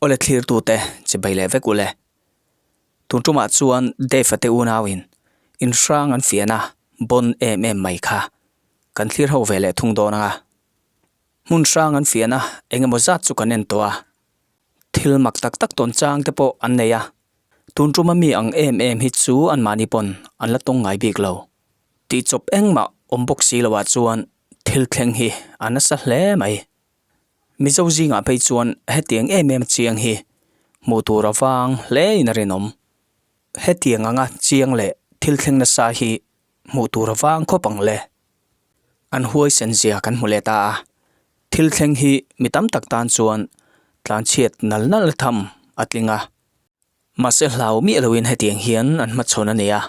Aw le thlir tu te, che bai leh vek u le. Tun ṭum ah chuan Dave a te unau in in hrang an fiah na bawn em em mai kha kan thlir ho ve leh thung dawn ang a. Hmun hrang an fiah na eng emaw zat chu kan en tawh a. Thil mak tak tak tawn chang te pawh an nei a, tun tuma mi ang em em hi chu anmahni pawn an la tawng ngai bik lo. Tih chawp engmah awm bawk si lo ah chuan thil thleng hi a nasa hle mai. Mizo zingah phei chuan hetiang em em a chiang hi hmuh tur avang hle in a rinawm. Hetiang anga chiang leh thil thleng nasa hi hmuh tur avang khawp ang le. an huaisen zia kan hmu leh ta a, thil thleng hi mi tam tak tan chuan tlanchhiat nal nal tham a tling a, mahse hlau miah loin hetiang hian an hmachhawn a ni a,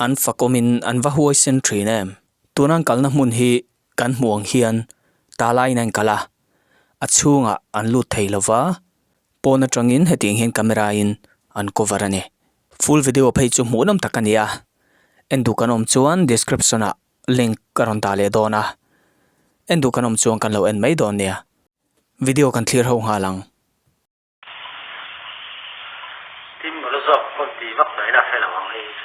an fakawmin an va huaisen thin em? Tuna an kalna hmun hi kan hmuh ang hian ta laiin a inkal a, a chhungah an lut thei lo va, pawn atangin hetiang hian camera-in an cover a ni. Full video phei chu hmuhnawm tak a ni a, en duh kan awm chuan description ah link ka rawn dah leh dawn a, en duh kan awm chuan kan lo en mai dawn nia, video kan thlir ho nghal ang. Steam ka la zawk pawn ti vak daih la fel ang ang hei chu.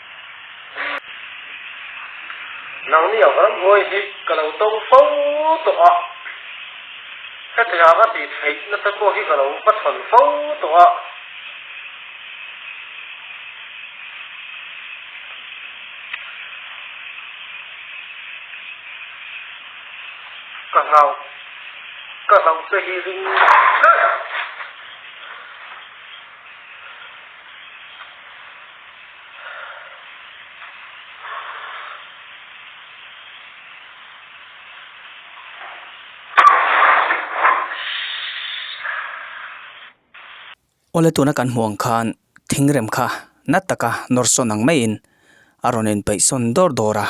Nang ni a varam huai hi ka lo to fo tawh a, Hetianga tih theih nasa pawh hi ka lo va chhawn fo tawh a, ka hlauh ka hlauh te hi ring thleh a. Aw le tuna kan hmuh ang khan thingrem kha nat taka nawrsawn ang maiin a rawn inpeihsawn dawr dawr a,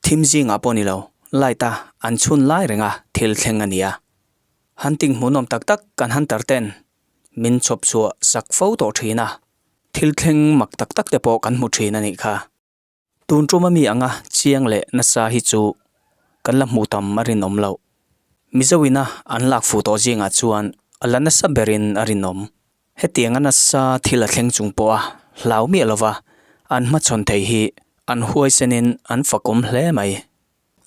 thim zingah pawh ni lo light a an chhun lai renga thil thleng a nia, han tinghmuhnawm tak tak kan han tar ten min chhawpchhuah sak fo tawh thin a. Thil thleng mak tak tak te pawh kan hmu thin a nih kha. Tun tuma mi anga chiang leh nasa hi chu kan la hmuh tam a rinawm lo. Mizo ina an lak fu tawh zingah chuan a la nasa berin a rinawm. Hetianga nasa thil a thleng chung pawha hlau miah lova an hmachhawn thei hi an huaisenin an fakawm hle mai.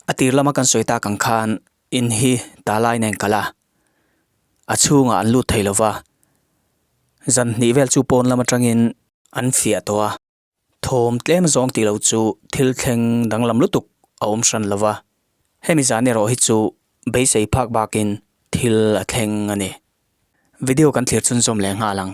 A tir lama kan sawi tak ang khan in hi Talai nen kal a, a chhunga an lut thei lova, zan hnih vel chu pawn lam atangin an fiah tawh a, thawm tlem zawng tih lo chu thil thleng danglam lutuk a awm hran lova, hemi zan erawh hi chu beisei phak bakin thil a thleng a ni. Video kan thlir chhunzawm leh nghal ang.